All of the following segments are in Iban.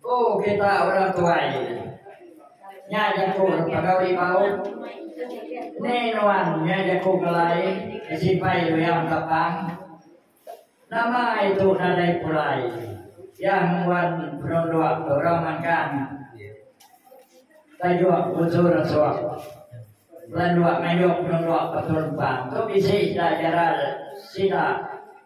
Ku kita orang tuai nya jaku pegau ribau ni nuan nya jaku kelai besimpai luyang tapang nama itu nadai pulai iya ngembuan penuduk ke orang magang tajuk busur suk landuak ngayuh penuduk ke tun pang tu bisi ida jaral sida.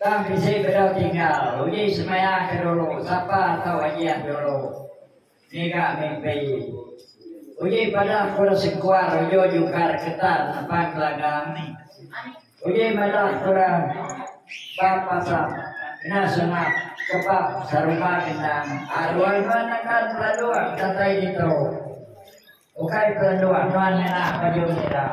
Tang bisi bedau tinggal uji semaya ke dulu sapa tau ajiat dulu ngiga mimpi uji padah kura sengkuar ujo jukar ketan nepang gelagam ni uji madah kura bab pasap kena senap kebab sarumba gendang aduai nuan nakan pelanduk datai ditu ukai pelanduk nuan ngena baju merah.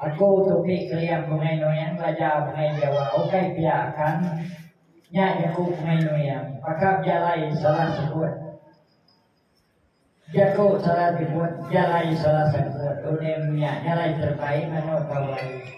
Aku tu mih keliang bungai nuyang laja bungai jawa ukai pia kan nya jaku bungai nuyang pakap jalai salah sebut jaku salah nyebut jalai salah sebut unim nya jalai terbaik mano tau ai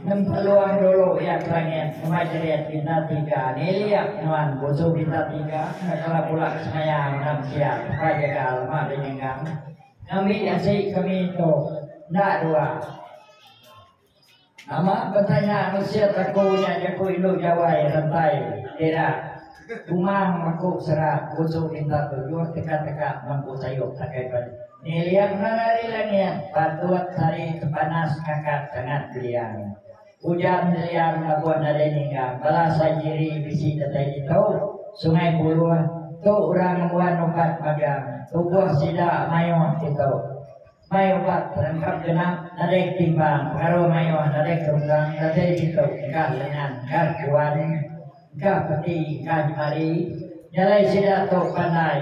nempeluang dulu ia kelangit semai jerit bintang tiga ni liap nuan busu bintang tiga nak kala pulak semaya menang siap pai jagal mak bininggang Ngambi ati kami tu enda dua. Nama betanya mesir teku nya jaku indu Jawai rentai tira kumang maku sera busu pintar tujuh teka teka mampu sayup takai pan niliang nang ari langit patut sari tepanas ngangkat tangan beliang Ujar Nerian ngabuh nadai ningga bala Saijiri bisi datai ditu, Sungai Buloh, tu urang ngembuan ukat magang, tubuh sida maioh ditu. Mai ubat rengkap genap, nadai ketimpang, pengaruh maioh nadai kerunggang datai ditu engkah lengan, engkah juan, engkah peti, engkah nyemali, jalai sida tu pandai.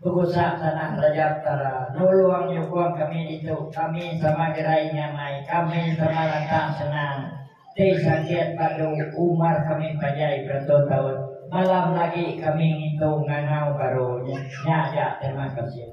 Begusah tanah Raja Petara nulung nyukung kami ditu, kami sama gerai nyamai, kami sama lantang senang ti sakit padu umar kami panjai berentut-entut, malam lagi kami ngintu ngangau baru nya aja terima kasih.